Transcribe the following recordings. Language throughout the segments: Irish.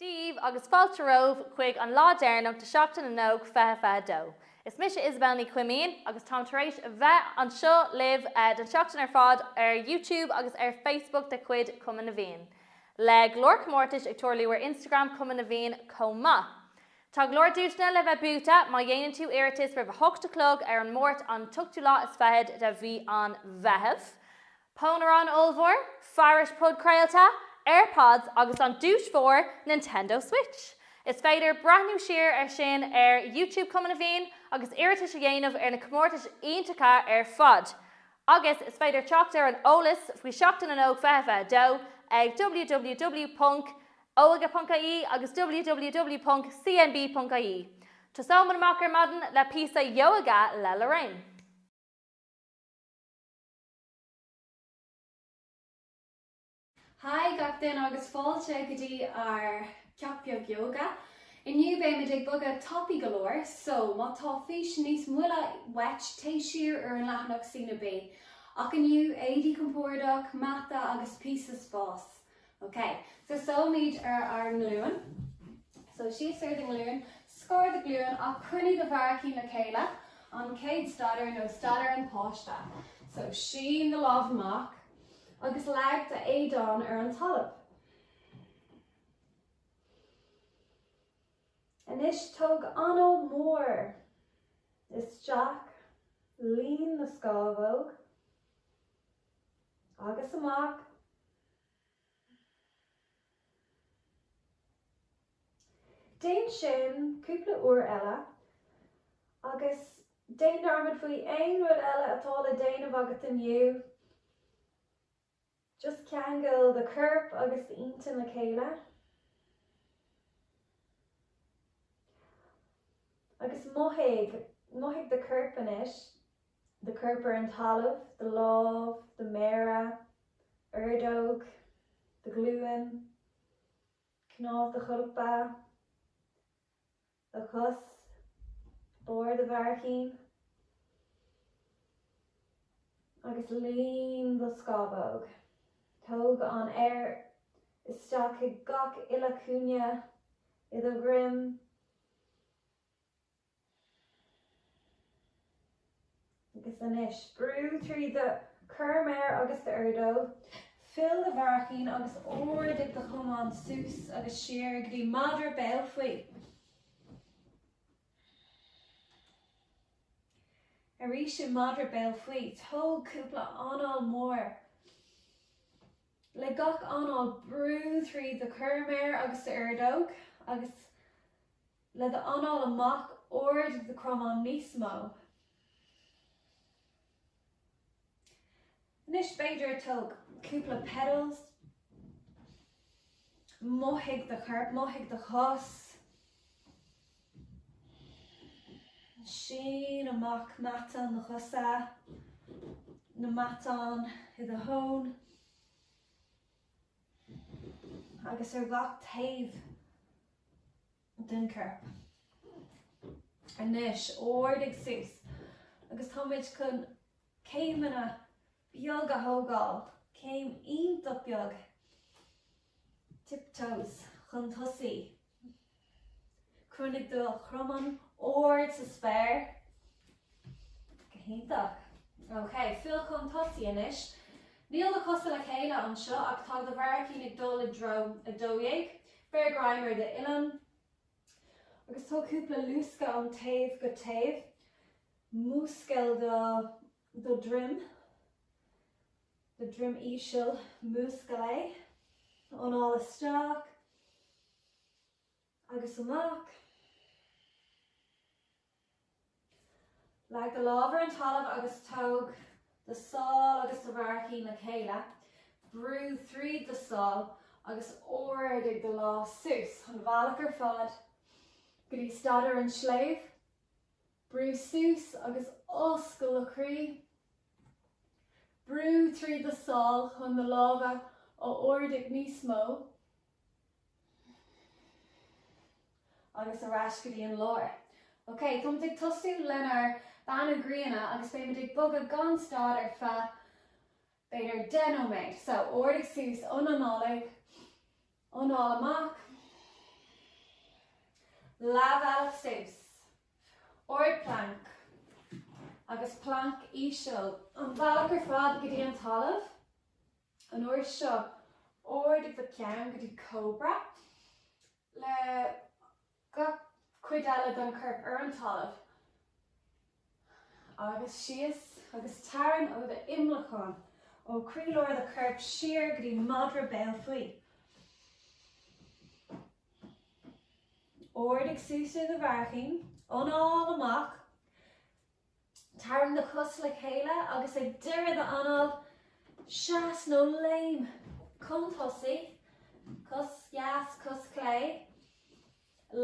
daoibh agus fáilte romhaibh chuig an lá deireanach de Sheachtain na nÓg 2022. Is mise Isabelle Ní Chuimín agus táim tar éis a bheith anseo libh don tseachtain ar fad ar YouTube agus ar Facebook de chuid Chumann na bhFiann, le go leor comórtais ag tarlú ar Instagram Chumann na bhFiann chomh maith. Tá go leor duaiseanna le bheith buaite má dhéanann tú iarratas roimh a hocht a chlog ar an Máirt an t-ochtú lá is fichead de mhí an Mheithimh. Pónaireán ollmhór, fearais podchraolta, Airpods agus an duais mhór, Nintendo Switch! Is féidir breathnú siar air sin ar YouTube Chumann na bhFiann agus iarratais a dhéanamh ar na comórtais iontacha ar fad. Agus is féidir teacht ar an eolas faoi Sheachtain na nÓg 22 ag ww. Óige.ie agus ww.cnb.ie. Tosóimis amach ar maidin le píosa ióga le Lorraine. Haigh gach duine agus fáilte go dtí ár gceacht beag ióga. Inniu beimid ag bogadh tapaidh go leor, so má tá físeán níos moille uait téigh siar ar an leathanach CnaB. Ach inniu, éadaí compordach, mata agus píosa spáis. Ok, tosóimid ar ár nglúin. So, suí siar do nglúin, scar do ghlúin, ach coinnigh do bharraicín le chéile, an chéad staidiúir nó staidiúir an pháiste. So, sín do lámh amach agus leag do éadán ar an talamh. Anois tóg anáil mhór isteach, líon na scámhóg agus amach. Déan sin cúpla uair eile agus déan dearmad faoi aon rud eile atá le déanamh agat inniu. Just ceangail do chorp agus d'intinn le chéile. Agus mothaigh, mothaigh do chorp anois. do chorp ar an talamh, do lámh, do mhéara, ordóg, do ghlúin, cnámh do cholpa, do chos, barr do bharraicín, agus líon do scámhóg. Tóg an aer isteach chuig gach uile chúinne i do dhroim. Agus anois, brú trí do chur méar agus d'airdeall, fill do bharraicín agus ardaigh do chromán suas agus siar go dtí madra béal faoi. Arís i madra béal faoi, tóg cúpla anáil mhór. Le gach anáil, brú trí do chorrmhéar agus d'ordóg agus. le do anáil amach ardaigh do chromán níos mó anois b'fhéidir tóg cúpla pedals mothaigh do chorp mothaigh do chos sín amach matán na chosa na matán i do thóin agus ar gach taobh den chorp. Anois, ardaigh suas, agus táimid chun céimeanna beaga a thógáil, céim iontach beag, tiptoes, chun tosaigh. Coinnigh do chromáin ard sa spéir. Go hiontach. Ok, fill chun tosaigh anois. Níl na cosa le chéile anseo ach tá do bharraicín ag dul i dtreo 12. Beir greim ar d'uillinn agus tóg cúpla luascadh ón taobh go taobh. Múscail do do dhroim, do dhroim íseal, múscail é, anáil isteach agus amach, leag do lámh ar an talamh agus tóg do sál agus do bharraicín le chéile, brú tríd do sál agus ardaigh do lámh suas an bealach ar fad go dtí staidiúir an tsléibhe, Brú suas agus oscail do chroí. Brú tríd do sál chun na lámha a ardaigh níos mó agus ar ais go dtí an lár. Ok, táimid ag tosú lenár beannú gréine agus beimid ag bogadh gan stad ar feadh b'fhéidir deich nóiméad. So, ardaigh suas ionanálaigh, anáil amach, leathbhealach suas, ard planc agus planc íseal an bhealach ar fad go dtí an talamh, an uair seo, ardaigh do cheann go dtí cóbra le gach cuid eile den chorp ar an talamh agus síos agus tarraing ó do imleacán, ó chroílár do choirp siar go dtí madra béal faoi. Ardaigh suas ar do bharraicín, anáil amach, tarraing do chos le chéile agus ag deireadh d'anáil, seas nó léim chun tosaigh, cos dheas, cos chlé,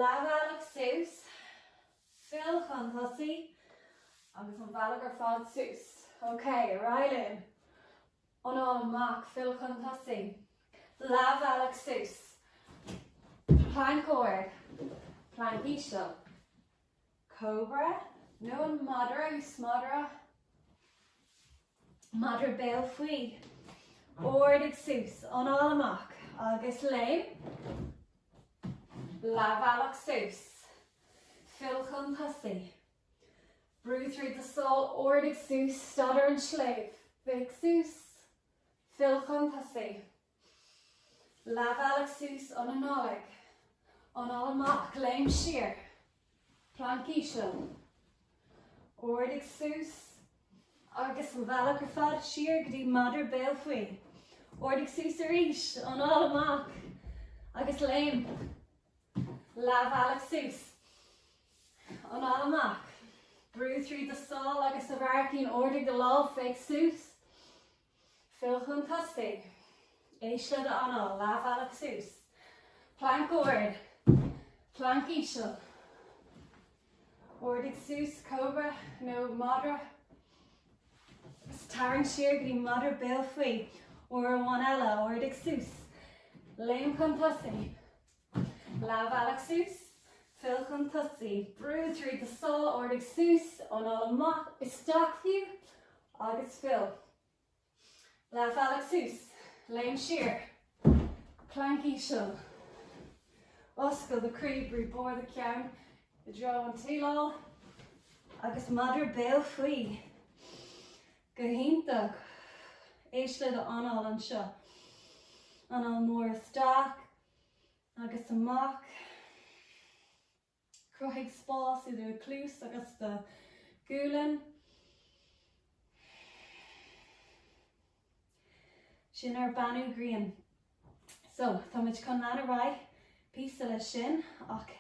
leathbhealach suas, fill chun tosaigh agus an bealach ar fad suas. OK, ar aghaidh linn. Anáil amach, fill chun tosaigh, leathbhealach suas, planc ard, planc íseal, cobra nó an madra suas, madra béal faoi, ardaigh suas, anáil amach agus léim, leathbhealach suas, fill chun tosaigh, brú tríd do sáil, ardaigh suas, staidiúir an tsléibhe, féach suas, fill chun tosaigh. Leathbhealach suas, anáil isteach, anáil amach, léim siar, planc íseal, ardaigh suas agus an bealach ar fad siar go dtí madra béal faoi, ardaigh suas arís, anáil amach agus léim, leathbhealach suas, anáil amach, brú tríd do sáil agus do bharraicín, ardaigh do lámh, féach suas. Fill chun tosaigh, éist le d'anáil, leathbhealach suas, planc ard, planc íseal, ardaigh suas, cobra nó madra, tarraing siar go dtí madra béal faoi, uair amháin eile, ardaigh suas, léim chun tosaigh, Leathbhealach suas, fill chun tosaigh. Brú tríd do sáil, ardaigh suas, anáil amach isteach fiú agus fill. Leathbhealach suas, léim siar, planc íseal. Oscail do chroí, brú barr do cheann i dtreo an tsíleáil agus madra béal faoi. Go hiontach! Éist le do anáil anseo. Anáil mór isteach. agus amach. Cruthaigh spás idir do chluas agus do ghualainn. Sin ár beannú grian. So, tá muid chun lean ar aghaidh píosa leis sin ach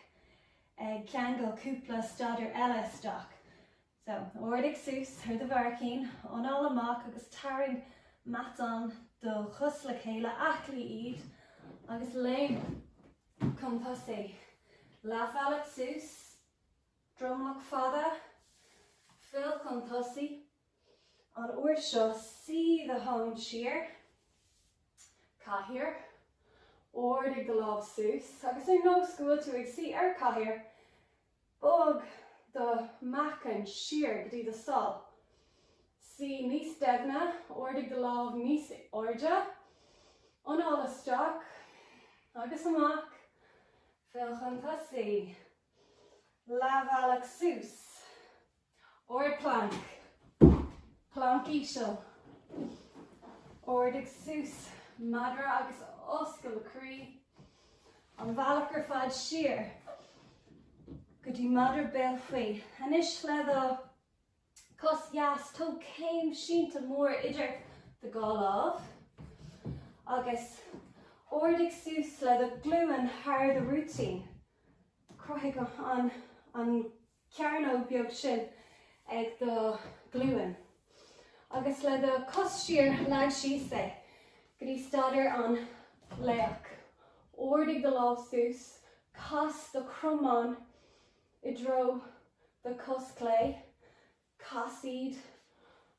ag ceangal cúpla staidéar eile isteach. So, ardaigh suas ar do bharraicín, anáil amach agus tarraing matáin do chos le chéile, aclaigh iad agus léim chun tosaigh. Leathbhealach suas, dromlach fada, fill chun tosaigh, an uair seo suigh do thóin siar, cathaoir, ardaigh do lámha suas agus ar nós go bhfuil tú ag suí ar chathaoir, Bog do mheáchan siar go dtí do shála. Suí níos doimhne, ardaigh do lámha níos airde. Anáil isteach agus amach, fill chun tosaigh. Leathbhealach suas. Ard planc. Planc íseal. Ardaigh suas madra agus oscail do chroí an bealach ar fad siar go dtí madra béal faoi. Anois le do cos dheas tóg céim sínte mór idir do dhá lámh agus ardaigh suas le do ghlúin thar do rúitín. Cruthaigh an cearnóg beag sin ag do ghlúin agus le do cos thiar leag síos é go dtí staidéar an laoch. Ardaigh do lámha suas, cas do chromáin i dtreo do chos clé, cas iad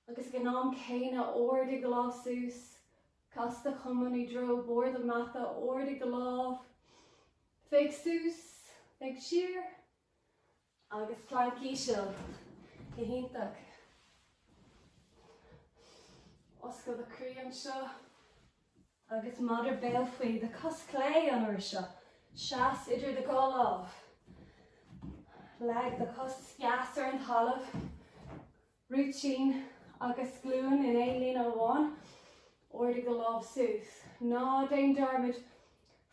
agus ag an am céanna ardaigh do lámha suas, cas do chromáin i dtreo barr do mhata, ardaigh do lámha, féach suas, féach siar, Agus planc íseal. Go hiontach. Oscail do chroí anseo. Agus madra béal faoi do chos chlé an uair seo. Seas idir do dhá lámh. Leag do chos dheas ar an talamh. Rúitín, Agus glúin in aon líne amháin, ardaigh do lámha suas. Ná déan dearmad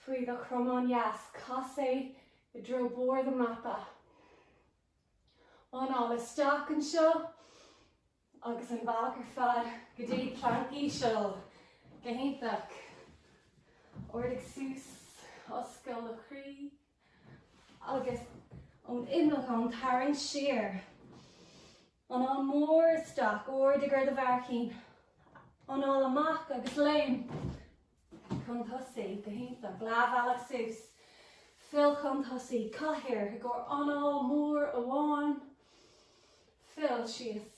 faoi do chromán dheas, cas é i dtreo barr do mhata. Anáil isteach anseo agus an bealach ar fad go dtí planc íseal. Go hiontach. Ardaigh suas, oscail do chroí. agus ón imleacán tarraing siar, anáil mhór isteach, ardaigh ar do bharraicín, anáil amach agus léim chun tosaigh, go hiontach, leathbhealach suas, fill chun tosaigh, cathaoir i gcomhair anáil mhór amháin, fill síos.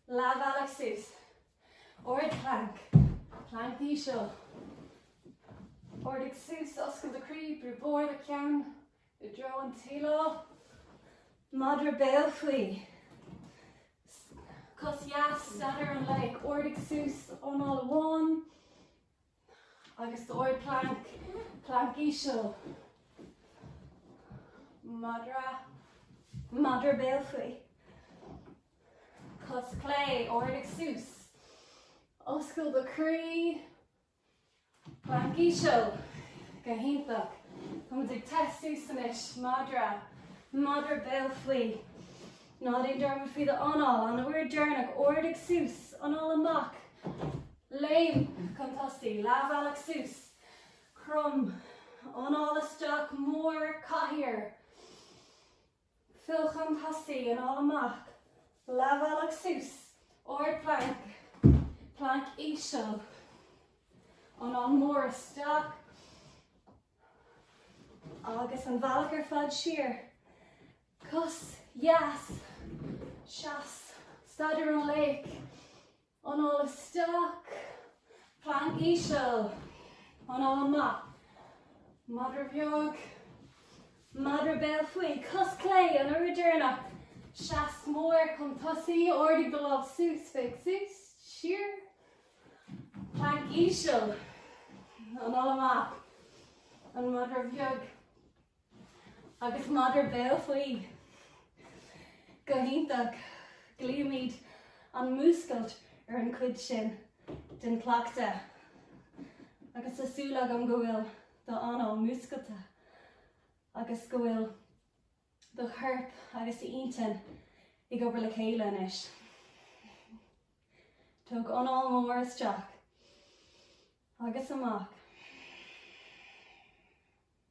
Leathbhealach suas. Ard planc. Planc íseal. Ardaigh suas oscail do chroí, brú barr do cheann i dtreo an tsíleáil. Madra béal faoi. Cos dheas, staidiúir an laoich. Ardaigh suas, anáil amháin. Agus ard planc, planc íseal, madra, madra béal faoi, cos clé, ardaigh suas, oscail do chroí, planc íseal, go hiontach. Táimid ag téamh suas anois, madra, madra béal faoi. Ná déan dearmad faoi do anáil, an uair deireanach, ardaigh suas, anáil amach, léim chun tosaigh, leath bhealach suas, crom, anáil isteach, mór, cathaoir, fill chun tosaigh, anáil amach, leath bhealach suas, ard planc, planc íseal, anáil mór isteach agus an bealach ar fad siar, Cos, dheas, seas, staidiúir an laoich, anáil isteach, planc íseal, anáil amach, madra bheag, madra béal faoi, cos clé, an uair deireanach, seas mór, chun tosaigh, ardaigh do lámh, suas, féach suas, siar, planc íseal, anáil amach, an madra bheag, Agus madra béal faoi go hiontach, glaoimid an múscailt ar an chuid sin den chleachtadh agus tá súil agam go bhfuil do anáil múscailte agus go bhfuil do chorp agus d'intinn ag obair le chéile anois. Tóg anáil mór isteach agus amach.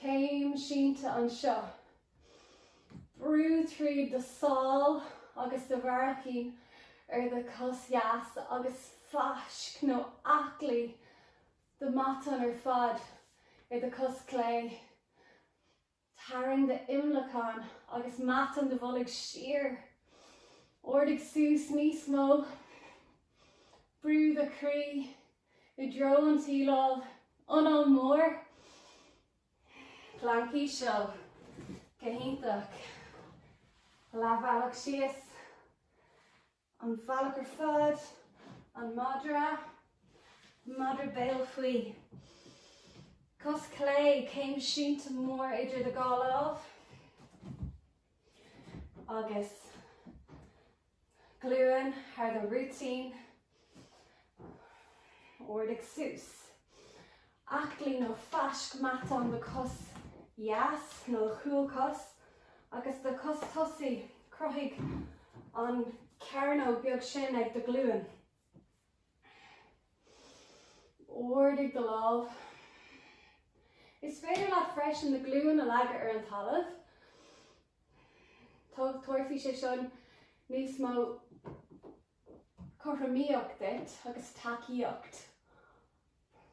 Céim sínte anseo. Brú tríd do sál agus do bharraicín ar do chos dheas agus fáisc nó aclaigh do mhatáin ar fad ar do chos clé. Tarraing d'imleacán agus matáin do bholg siar. Ardaigh suas níos mó. Brú do chroí. i dtreo an tsíleáil, anáil mór planc íseal, go hiontach, leathbhealach síos an bealach ar fad, an madra, madra béal faoi, cos chlé, céim sínte mór idir do dhá lámh agus. Glúin thar do rúitín, ardaigh suas. Aclaí nó fáisc matán do chos dheas nó do chúlchos agus do chos tosaigh, cruthaigh an chearnóg beag sin ag do ghlúin. Ardaigh do lámh. Is féidir leat freisin an ghlúin a leagadh ar an talamh. Tabharfaidh sé seo níos mó cothromaíocht duit agus tacaíocht.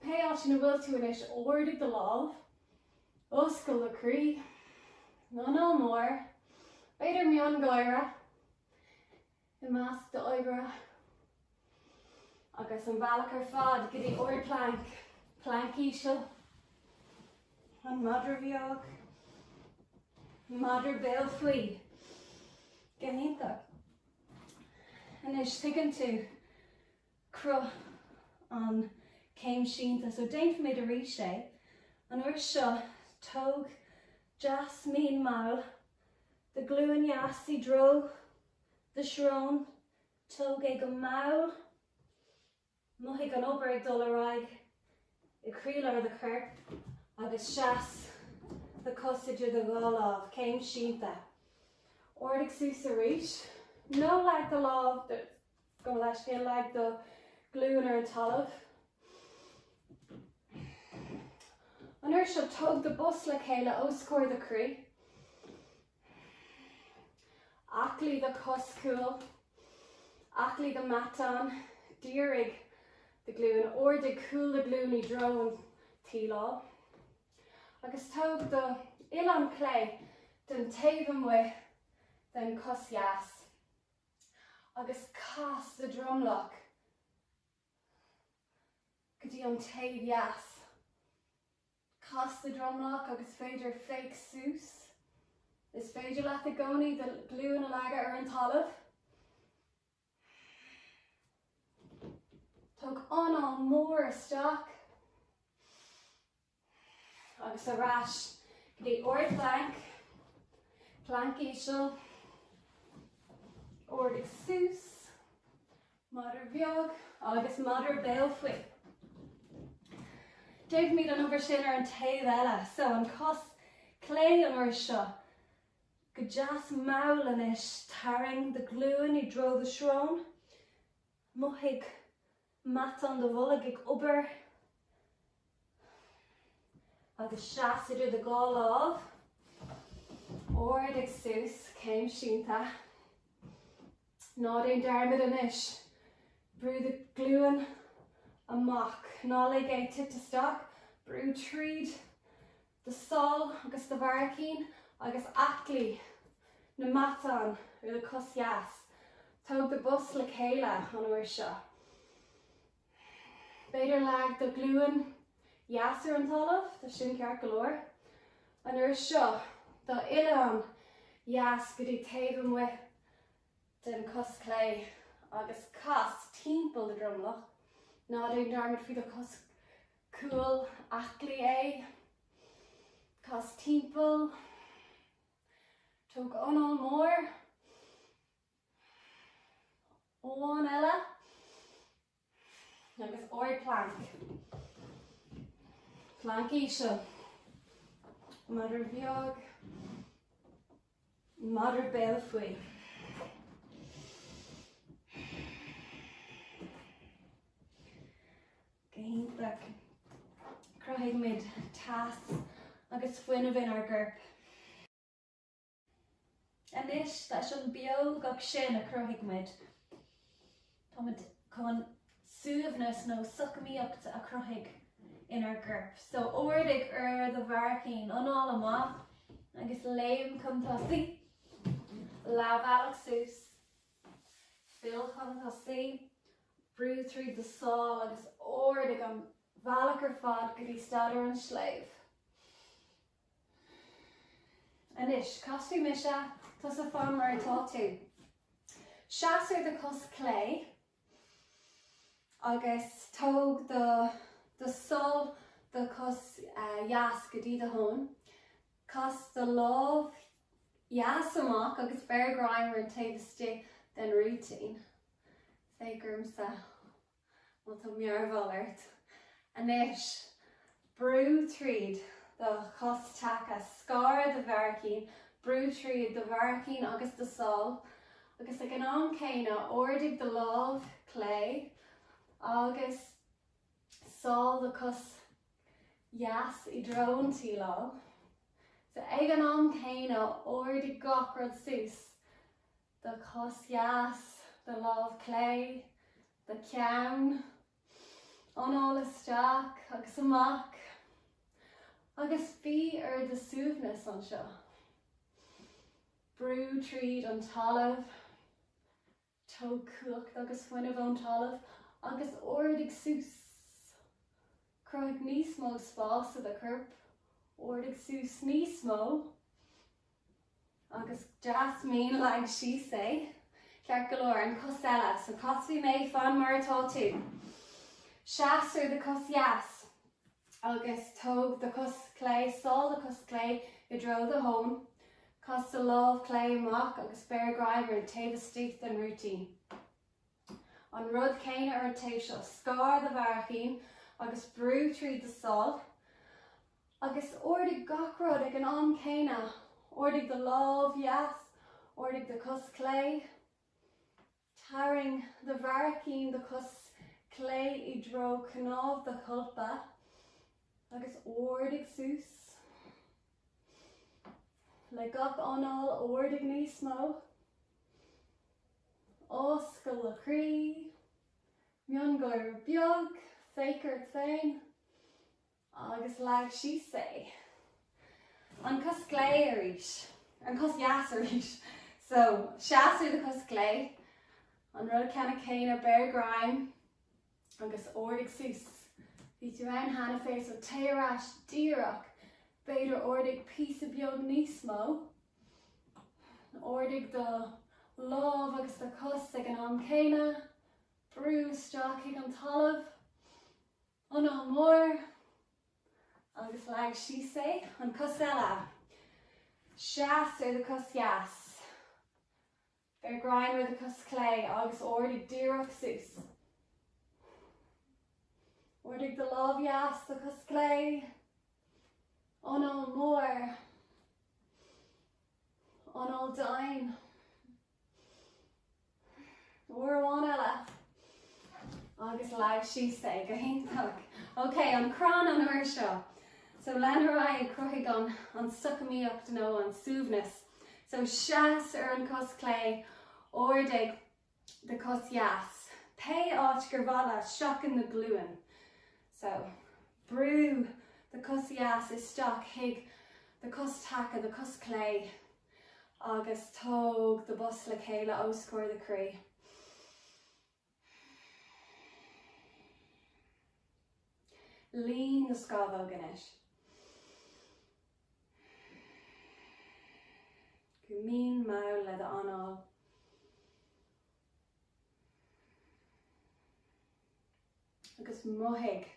Pé áit ina bhfuil tú anois, ardaigh do lámh, oscail do chroí, anáil mhór, b'fhéidir miongháire. i measc d'oibre agus an bealach ar fad go dtí ardphlanc, planc íseal, an madra beag, an madra béal faoi, go hiontach. Anois tuigeann tú cruth an céim sínte, so déanfaimid arís é, an uair seo tóg go deas mín mall do ghlúin dheas i dtreo do shrón, tóg é go mall, mothaigh an obair ag dul ar aghaidh i gcroílár do choirp agus seas do chos idir do dhá lámh, céim sínte. Ardaigh suas arís, nó leag do lámh gabh mo leithscéal, leag do ghlúin ar an talamh. An uair seo, tóg do bhos le chéile os comhair do chroí. Aclaí do chos cúil, aclaí do mhatáin, dírigh do ghlúin, ardaigh cúl do ghlúin i dtreo an tsíleáil agus tóg do uillinn clé don taobh amuigh den chos dheas agus cas do dhromlach go dtí an taobh dheas. cas do dhromlach agus b'fhéidir féach suas. Is féidir leat i gcónaí do ghlúin a leagadh ar an talamh. Tóg anáil mhór isteach agus ar ais go dtí ardphlanc, planc íseal, ardaigh suas, Madra beag agus madra béal faoi. Déanfaimid an obair sin ar an taobh eile, so an cos clé an uair seo, go deas mall anois, tarraing do ghlúin i dtreo do shrón, mothaigh matáin do bhoilg ag obair, agus seas idir do dhá lámh, ard a suas, céim sínte. Ná déan dearmad anois, brú do ghlúin amach, ná lig é a tipeadh isteach, brú tríd do sháil agus do bharraicín agus aclaí na matán ar do chos dheas. Tóg do bhos le chéile an uair seo. B'fhéidir leag do glúin dheas ar an talamh, tá sin ceart go leor. An uair seo, d'uillinn dheas go dtí taobh amuigh den chos clé agus cas timpeall do dhromlach. Ná déan dearmad faoi do chos cúil, aclaí é. Cas timpeall. Tóg anáil mhór. Ceann eile agus ard plank. Plank íseal. Madra beag. Madra béal faoi. Go hiontach. Cruthaímid teas agus fuinneamh inár gcorp. Anois, leis an mbeocht sin a chruthaigh muid, táimid chun suaimhneas nó socamaíocht a chruthú inár gcorp. So, ardaigh ar do bharraicín, anáil amach agus léim chun tosaigh. Leathbhealach suas, fill chun tosaigh, brú tríd do sál agus ardaigh an bealach ar fad go dtí staidiúir an tsléibhe. Anois, casfaidh mise, tusa fan mar atá tú. Seas ar do chos chlé agus tóg do, do sáil do chos uh, dheas go dtí do thóin. Cas do lámh dheas amach agus beir greim ar an taobh istigh den rúitín. Féach ormsa. Má tá mearbhall ort anois, brú tríd do chos taca, scar do bharraicín, brú tríd do bharraicín agus do sál, agus ag an am céanna, ardaigh do lámh chlé agus sál do chos dheas i dtreo an tsíleáil. Ag an am céanna, ardaigh gach rud suas. do chos dheas, do lámh chlé, do cheann, anáil isteach agus amach agus bí ar do suaimhneas anseo. Brú tríd an talamh, tóg cumhacht agus fuinneamh ón talamh agus ardaigh suas. Cruthaigh níos mó spáis i do chorp, ardaigh suas níos mó. Agus deas mín leag síos é. Ceart go leor, an cos eile. So casfaidh mé, fan mar atá tú. Seas ar do chos dheas agus tóg do chos chlé, sál do chos chlé i dtreo do thóin. Cas do lámh chlé amach agus beir greim ar an taobh istigh den rúitín. An rud céanna ar an taobh seo, scar do bharraicíní agus brú tríd do sáil, agus ardaigh gach rud ag an am céanna, ardaigh do lámh dheas, ardaigh do chos chlé, tarraing do bharraicíní do chos chlé i dtreo chnámh do cholpa agus ardaigh suas. le gach anáil ardaigh níos mó, oscail do chroí, miongháire beag, féach ort féin agus leag síos é. An cos chlé arís, an cos dheas arís. So, seas ar do chos chlé, an rud ceannann céanna, beir greim Agus ardaigh suas. Bhí tú ann cheana féin so téigh ar ais díreach. B'fhéidir ardaigh píosa beag níos mó. Ardaigh do lámh agus do chos ag an am céanna. Brú isteach chuig an talamh. Anáil mór. Agus leag síos é. An cos eile. Seas ar do chos dheas. Beir greim ar do chos chlé agus ardaigh díreach suas. Ardaigh do lámh dheas, do chos chlé, anáil mór, anáil domhain. Uair amháin eile. Agus leag síos é go hiontach. Ok, an crann an uair seo. So lean ar aghaidh ag cruthaigh an, an socamhlacht nó an suaimhneas. So seas ar an cos chlé, ardaigh do chos dheas, pé áit gur mhaith leat, seachain na glúine. So, brú do chos dheas isteach chuig do chos taca, do chos chlé, agus tóg do bos le chéile os comhair do chroí. Líon na scámhóg anois. Go mín, mall le do anáil. Agus mothaigh,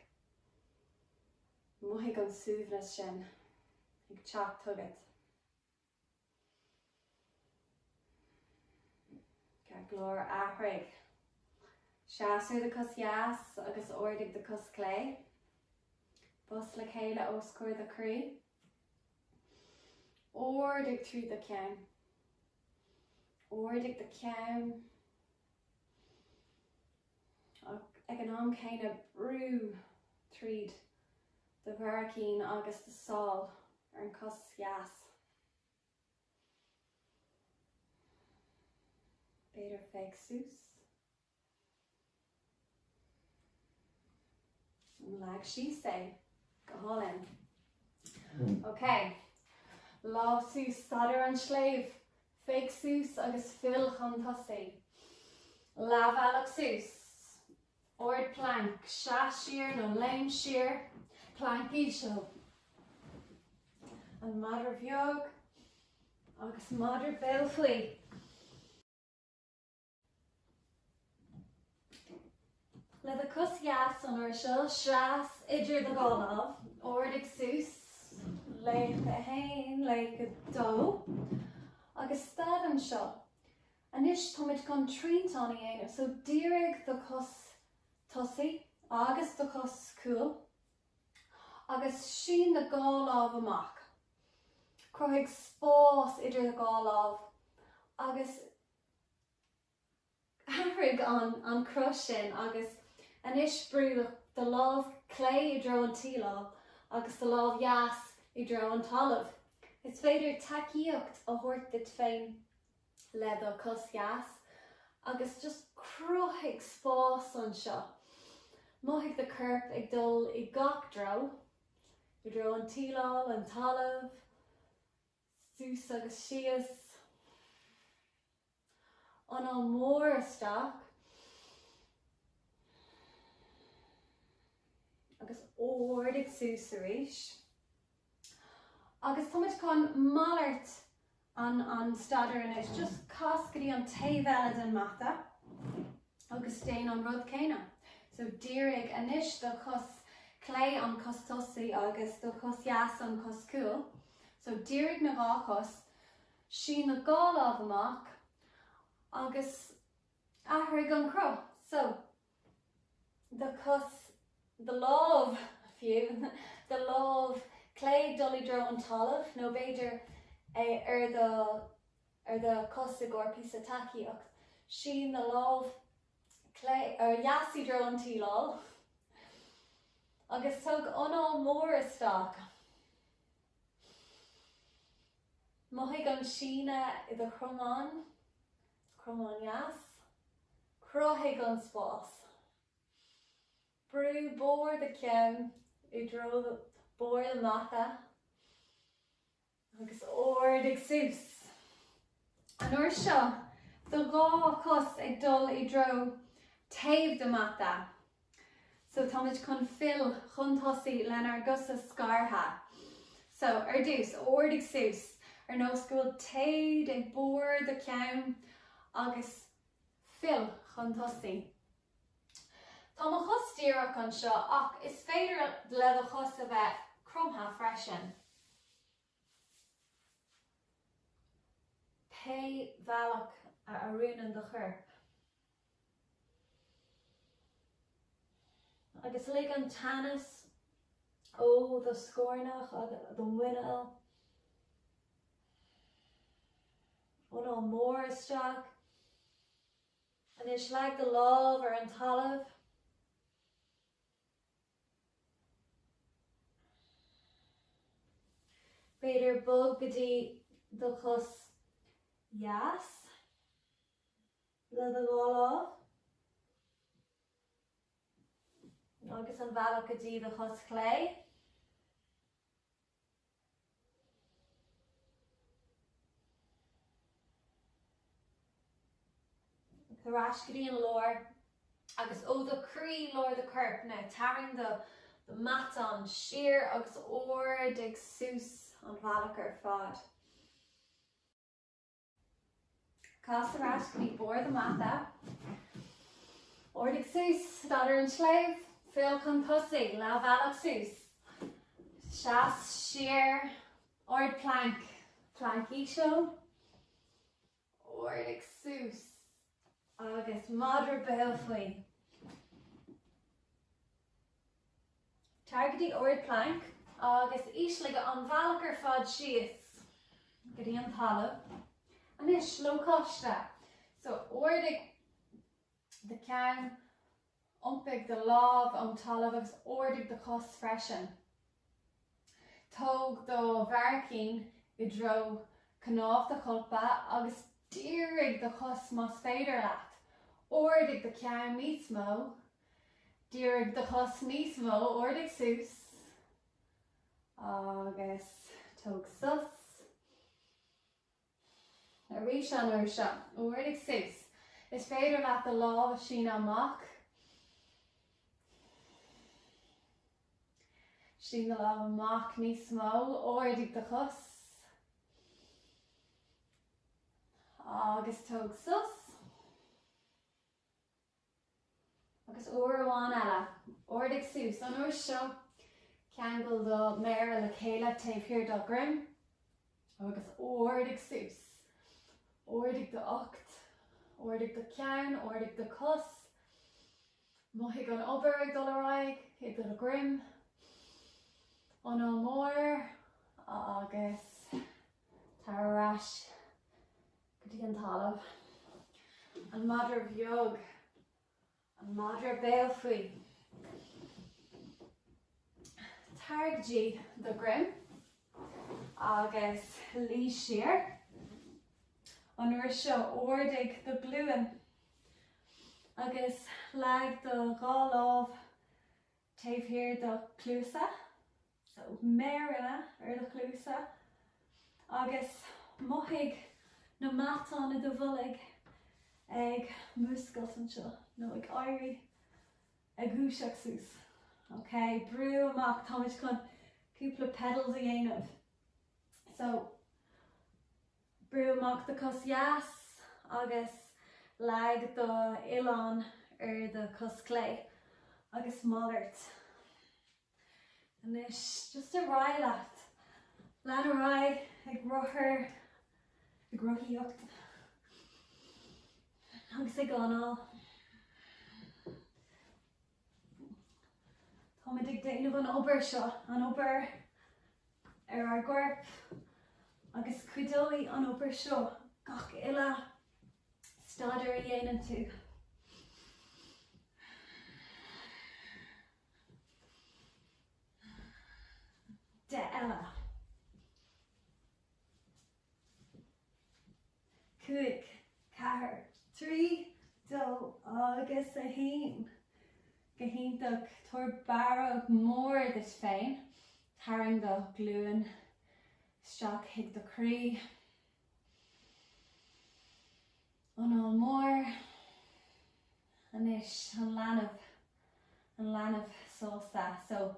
mothaigh an suaimhneas sin ag teacht chugat. Ceart go leor, athraigh. Seas ar do chos dheas agus ardaigh do chos chlé. Bos le chéile os comhair do chroí. Ardaigh trí do cheann. Ardaigh do cheann. Ag an am céanna, brú tríd do bharraicín agus do sál ar an chos dheas. B'fhéidir féach suas. Leag síos é go hálainn. Ok, lámha suas staid an tsléibhe, féach suas agus fill chun tosaigh. Leath bealaigh suas, Ard planc, seas siar nó léim siar. Planc íseal. An madra bheag agus madra béal faoi. Le do cos dheas san aer seo, seas idir do dhá lámh, ardaigh suas, laoch a haon, laoch a dó, agus stad anseo. Anois táimid chun triantán a dhéanamh, so dírigh do chos tosaigh agus do chos cúil agus sín do dhá lámh amach. Cruthaigh spás idir do dhá lámh agus athraigh an cruth sin agus anois brú do lámh chlé i dtreo an tsíleáil agus do lámh dheas i dtreo an talaimh. Is féidir tacaíocht a thabhairt duit féin. le do cos dheas agus just cruthaigh spás anseo. Mothaigh do chorp ag dul i ngach treo, i dtreo an tsíleáil, an talamh, suas agus síos. Anáil mór isteach agus ardaigh suas arís. Agus táimid chun malairt an staidéar anois, just cas go dtí an taobh eile den mata agus déan an rud céanna. So dírigh anois do chos chlé an cos tosaí agus do chos dheas an cos cúil. So dírigh na dhá chos, sín na dhá lámh amach agus athraigh an cruth. So do chos, do lámh, fiú, do lámh chlé dul i dtreo an talaimh, nó b'fhéidir ar do, ar do chos i gcomhair píosa tacaíocht, sín do lámh chlé ó dheas i dtreo an tsíleáil agus tóg anáil mhór isteach. Mothaigh an síneadh i do chromáin, cromáin dheas. Cruthaigh an spás. Brú barr do ceann i dtreo barr do mata agus ardaigh suas. An uair seo, do dhá cos ag dul i dtreo taobh do mata. So táimid chun fill chun tosaigh lenár gcosa scartha. So, ar dtús, ardaigh suas, ar nós go bhfuil téad ag barr do cheann agus fill chun tosaigh. Tá mo chos díreach anseo ach is féidir le do chos a bheith cromtha freisin. Pé bealach a oiriúnann do chorp. Agus lig an teannas ó do scornach agus do mhuineál, anáil mór isteach. Anois leag do lámh ar an talamh. B'fhéidir, bog go dtí do chos dheas le do dhá lámh agus an bealach go dtí do chos chlé. Tar ar ais go dtí an lár, agus ó do chroí, lár do choirp, tarraing do mheáchan siar agus ardaigh suas an bhealach ar fad. Cas ar ais go dtí barr do mata. Ardaigh suas, stad ar an tsléibh, fill chun tosaigh, leath bhealach suas, seas siar, ard planc, planc íseal, ardaigh suas. agus madra béal faoi. Tar go dtí ardphlanc agus ísligh an bhealach ar fad síos go dtí an talamh. Anois, lócaiste. So, ardaigh do cheann. Iompaigh do lámh ón talamh agus ardaigh do chos freisin. Tóg do bharraicín i dtreo cnámh do cholpa agus dírigh do chos más féidir leat. Ardaigh do cheann níos mó. Dírigh do chos níos mó. Ardaigh suas agus tóg sos. arís an uair seo. ardaigh suas. Is féidir leat do lámh a shíneadh amach. Sín do lámh amach níos mó, ardaigh do chos. Agus tóg sos. Agus uair amháin eile, ardaigh suas an uair seo, ceangail do mhéara le chéile taobh thiar do dhroim, agus ardaigh suas. Ardaigh d'ucht, ardaigh do cheann, ardaigh do chos. Mothaigh an obair ag dul ar aghaidh i do dhroim. Anáil mór agus tar ar ais. go dtí an talamh. An madra bheag, an madra béal faoi. Tar go dtí do dhroim agus luí siar. An uair seo, ardaigh do ghlúine agus leag do dhá lámh taobh thiar do chluasa, so méaranna ar do chluasa, agus mothaigh na matáin i do bholg ag múscailt anseo nó ag éirí, ag dúiseacht suas. Ok, brú amach, táimid chun cúpla pedals a dhéanamh. So. Brúigh amach do cos dheas agus leag do uillinn ar do cos clé agus malairt. Anois, just ar aghaidh leat. Lean ar aghaidh ag rothair, ag rothaíocht agus ag análú. Táimid ag déanamh an obair seo, an obair ar ár gcorp, agus cuideoidh an obair seo gach uile staidiúir a dhéanann tú. De eile. cúig, ceathair, trí, dó agus a haon. Go hiontach! Tabhair barróg mhór duit féin, tarraing do ghlúine isteach chuig do chroí, anáil mhór. Anois, an leanbh, an leanbh sásta. So,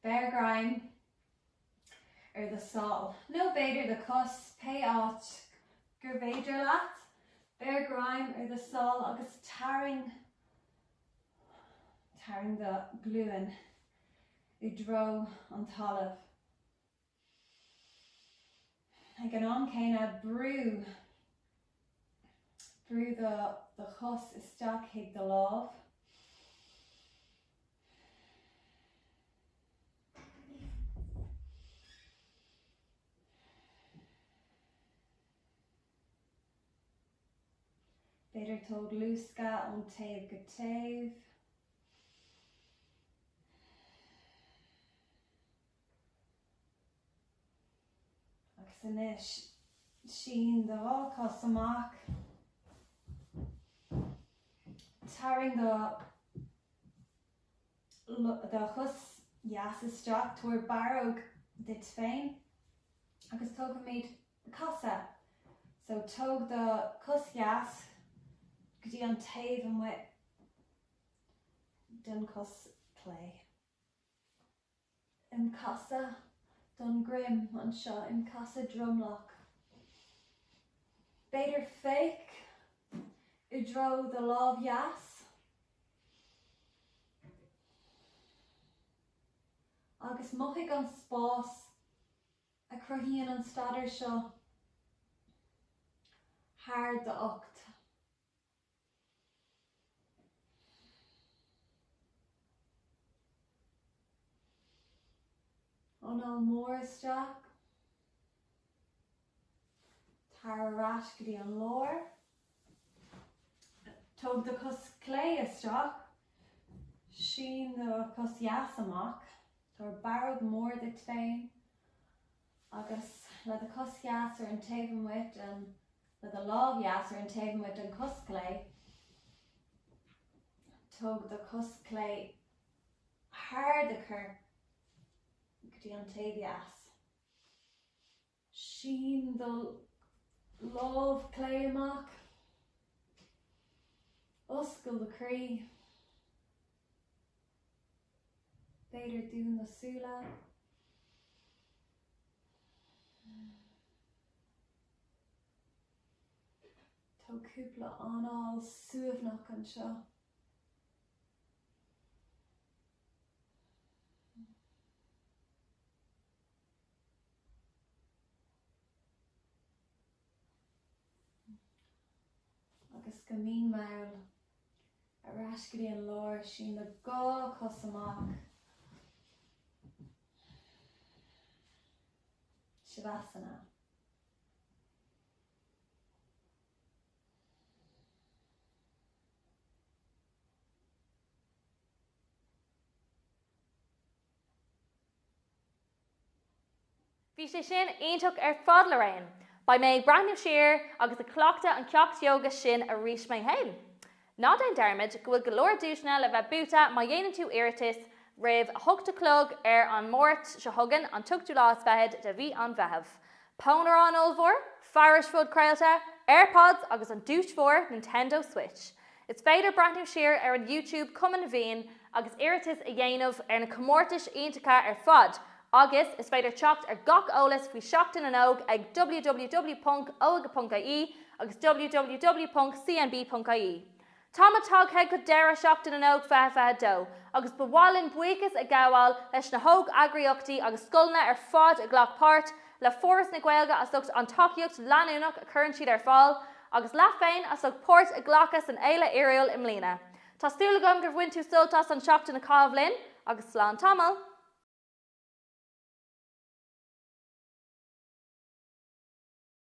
beir greim. ar do shál, nó b'fhéidir do chos, pé áit gur féidir leat, beir greim ar do shál agus tarraing, tarraing do ghlúin i dtreo an talamh. Ag an am céanna, brú, brú do, do chos isteach chuig do lámh. B'fhéidir tóg luascadh ón taobh go taobh. Agus anois sín do dhá cos amach. Tarraing do do chos dheas isteach, tabhair barróg duit féin agus tógfaimid casadh. So, tóg do chos dheas go dtí an taobh amuigh den chos chlé. in casadh don droim anseo, in casadh dromlach. B'fhéidir féach i dtreo do lámh dheas agus mothaigh an spás a chruthaíonn an staidéar seo thar d'ucht. Anáil mór isteach. Tar ar ais go dtí an lár. Tóg do chos chlé isteach. Sín do chos dheas amach. Tabhair barróg mhór duit féin. Agus le do chos dheas ar an taobh amuigh den, le do lámh dheas ar an taobh amuigh den chos chlé, tóg do chos chlé thar do chorp go dtí an taobh dheas. Sín do lámh chlé amach. Oscail do chroí. B'fhéidir dún na súile. Tóg cúpla anáil shuaimhneach anseo. agus go mín mall ar ais go dtí an lár, sín na dhá chos amach. Shavasana. Bhí sé sin iontach ar fad le réim. Beidh mé ag breathnú siar agus ag cleachtadh an ceacht ióga sin arís mé féin. Ná déan dearmaid go bhfuil go leor duaiseanna le bheith buaite má dhéanann tú iarratas roimh a hocht a chlog ar an Máirt seo chugainn, an t-ochtú lá is fichead de mhí an Mheithimh. Pónaireán ollmhór, fearais phodchraolta, Airpods agus an duais mhór Nintendo Switch. Is féidir breathnú siar ar an YouTube Cumann na bhFiann agus iarratas a dhéanamh ar na comórtais iontacha ar fad agus is féidir teacht ar gach eolas faoi Seachtain na nÓg ag www.oige.ie agus www.cnb.ie. Táimid tagtha go deireadh Sheachtain na nÓg 2022 agus ba mhaith linn buíochas a ghabháil leis na hóg-eagraíochtaí agus scoileanna ar fad a ghlac páirt le Foras na Gaeilge as ucht an tacaíocht leanúnach a chuireann siad ar fáil, agus leat féin as ucht páirt a ghlacadh san fhéile fhíorúil i mbliana. Tá súil agam gur bhain tú sult as an tseachtain a chaitheamh linn, agus slán tamall!